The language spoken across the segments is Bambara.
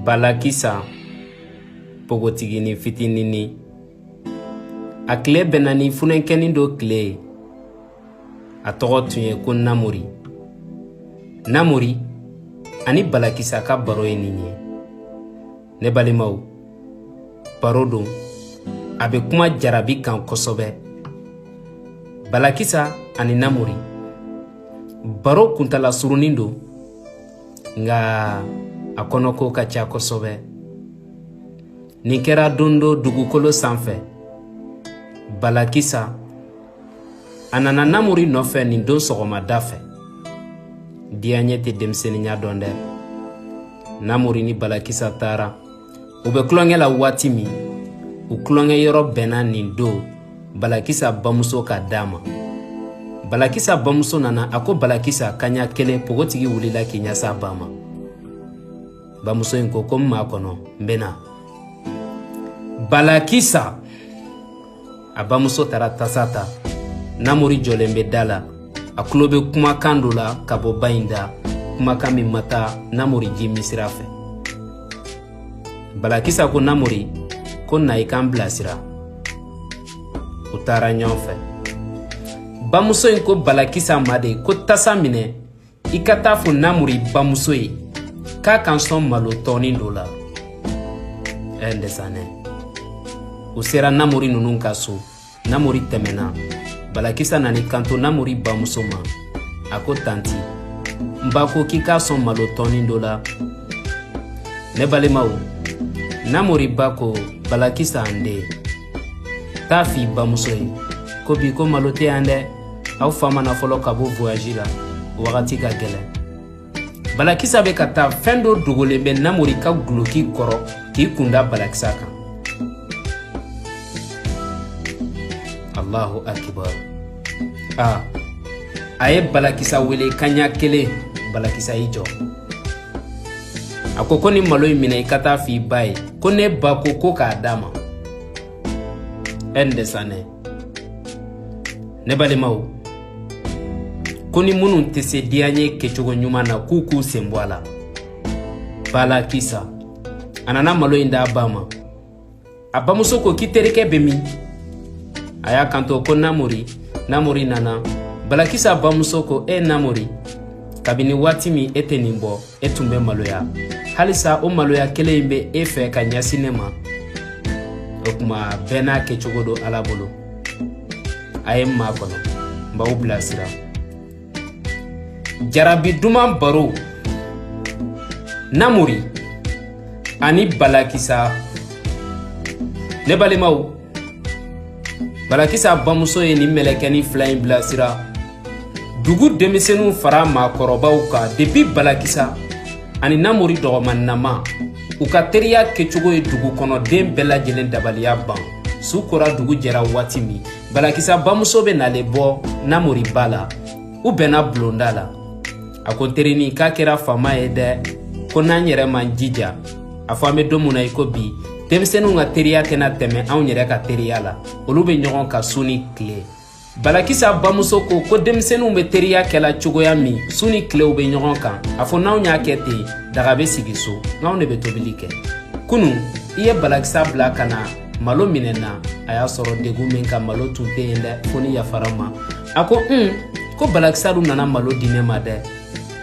balakisa pogotigini fitinini a tile bɛnna ni funenkɛni dɔ tile ye a tɔgɔ tun ye ko namori namori ani balakisa ka baro ye nin ye ne balimaw baro don a bɛ kuma jarabi kan kosɛbɛ balakisa ani namori baro kuntala surunin don nka a kɔnɔko ka ca kosɛbɛ nin kɛra don dɔ dugukolo sanfɛ balakisa a nana namori nɔfɛ nin don sɔgɔmada fɛ diyaɲɛ tɛ denmisɛnninya dɔn dɛ namori ni balakisa taara u bɛ tulonkɛ la waati min u tulonkɛ yɔrɔ bɛnna nin don balakisa bamuso ka da ma balakisa bamuso nana a ko balakisa kaɲa kelen pogotigi wulila k'i ɲɛs'a ba ma bamuso in ko ko n makɔnɔ n bɛ na balakisa a bamuso taara tasa ta namori jɔlen bɛ da la a tulo bɛ kumakan dɔ la ka bɔ ba in da kumakan min ma taa namori ji min sira fɛ balakisa ko namori ko na i k'an bilasira u taara ɲɔgɔn fɛ bamuso in ko balakisa ma de ko tasa minɛ i ka taa fɔ namori bamuso ye k'a ka n sɔn malo tɔnin dɔ la ɛɛ ndɛsanɛ u sera namori ninnu ka so namori tɛmɛna balakisa nan'i kanto namori bamuso ma a ko tanti n ba ko k'i k'a sɔn malo tɔnin dɔ la ne balimaw namori ba ko balakisa n den taa f'i bamuso ye ko bi ko malo tɛ yan dɛ aw fa ma na fɔlɔ ka bɔ voyaji la wagati ka gɛlɛn balakisa bɛ ka taa fɛn dɔ dogolen bɛ namori ka guloki kɔrɔ k'i kunda balakisa kan allahu akibar a ye balakisa wele kaɲa kelen balakisa y'i jɔ a ko ko nin malo in minɛ i ka taa f'i ba ye ko ne ba ko ko k'a d'a ma ndɛsanɛ ne balimaw ko ni minnu tɛ se diyaɲɛ kɛcogo ɲuman na k'u k'u sen bɔ a la balakisa a nana malo in d'a ba ma a bamuso ko k'i terikɛ bɛ min a y'a kanto ko namori namori nana balakisa bamuso ko e namori kabini waati min e tɛ nin bɔ e tun bɛ maloya halisa o maloya kelen in bɛ e fɛ ka ɲɛsin ne ma o kuma bɛɛ n'a kɛcogo don ala bolo a ye n makɔnɔ n b'aw bilasira jarabi duman baro namori ani balakisa ne balimaw balakisa bamuso ye nin mɛlɛkɛni fila in bilasira dugu denmisɛnninw fara maakɔrɔbaw kan depi balakisa ani namori dɔgɔmannama u ka teriya kɛcogo ye dugu kɔnɔ den bɛɛ lajɛlen dabaliya ban su kora dugu jɛra waati min balakisa bamuso bɛ nalen bɔ namori ba la u bɛnna bulonda la a ko n terini k'a kɛra faama ye dɛ ko n'an yɛrɛ m'an jija a fɔ an bɛ don mun na i ko bi denmisɛninw ka teriya tɛna tɛmɛ anw yɛrɛ ka teriya la olu bɛ ɲɔgɔn kan su ni tile balakisa bamuso ko ko denmisɛninw bɛ teriya kɛla cogoya min su ni tile u bɛ ɲɔgɔn kan a fɔ n'anw y'a kɛ ten daga bɛ sigi so n'anw de bɛ tobili kɛ kunu i ye balakisa bila ka na malo minɛ n na a y'a sɔrɔ degun min ka malo tun tɛ yen dɛ fo n'i yafara n ma a ko un ko balakisa dun nana malo di ne ma dɛ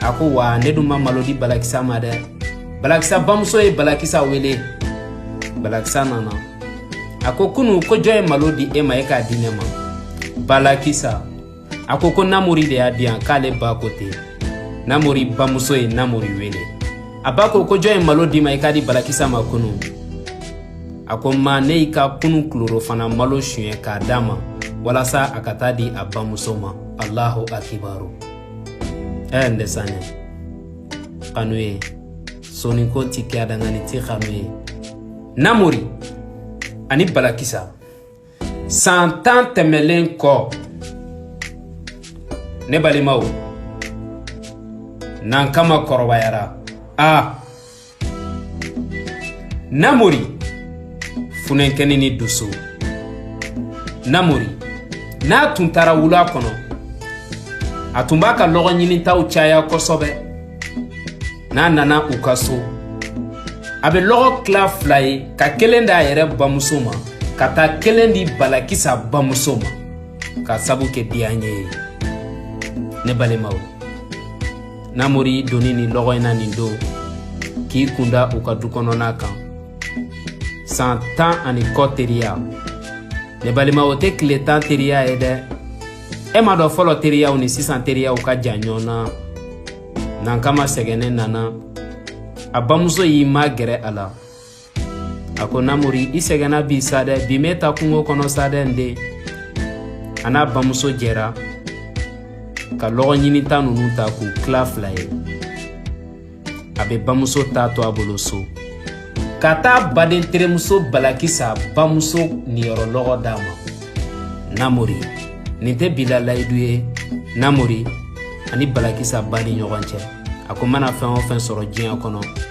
a ko wa ne dun ma malo di balakisa ma dɛ balakisa bamuso ye balakisa wele balakisa nana a ko kunu ko jɔn ye malo di e ma e k'a di ne ma balakisa a ko ko namori de y'a di yan k'ale ba ko ten namori bamuso ye namori wele a ba ko ko jɔn ye malo di i ma i k'a di balakisa ma kunu a ko ma ne y'i ka kunu tilerɔfana malo suɲɛ k'a d'a ma walasa a ka taa di a bamuso ma alahu akibaru ɛɛ n dɛsanɛ kanu ye soniko ti kɛ adangani ti kanu ye namori ani balakisa san tan tɛmɛlen kɔ ne balimaw nankama kɔrɔbayara a ah. namori funenkɛni ni dusu namori n'a tun taara wula kɔnɔ a tun b'a ka lɔgɔ ɲinitaw caya kosɛbɛ n'a nana u ka so a bɛ lɔgɔ tila fila ye ka kelen d'a yɛrɛ bamuso ma ka taa kelen di balakisa bamuso ma k'a sabu kɛ diyaɲɛ ye ne balimaw namori doninen lɔgɔ in na nin don k'i kunda u ka du kɔnɔna kan san tan ani kɔ teriya ne balima o tɛ tile tan teriya ye dɛ e m'a dɔn fɔlɔ teriyaw ni sisan teriyaw ka jan ɲɔgɔn na nankama sɛgɛnnen nana a bamuso y'i magɛrɛ a la a ko namori i sɛgɛnna bi sa dɛ bi i mɛɛnna kungo kɔnɔ sa dɛ n den a n'a bamuso jɛra ka lɔgɔ ɲininta ninnu ta k'u tila fila ye a bɛ bamuso ta to a bolo so ka taa baden terimuso balakisa bamuso niyɔrɔ lɔgɔ d'a ma namori nin tɛ bila layidu ye namori ani balakisa ba ni ɲɔgɔn cɛ a ko mana fɛn o fɛn sɔrɔ diɲɛ kɔnɔ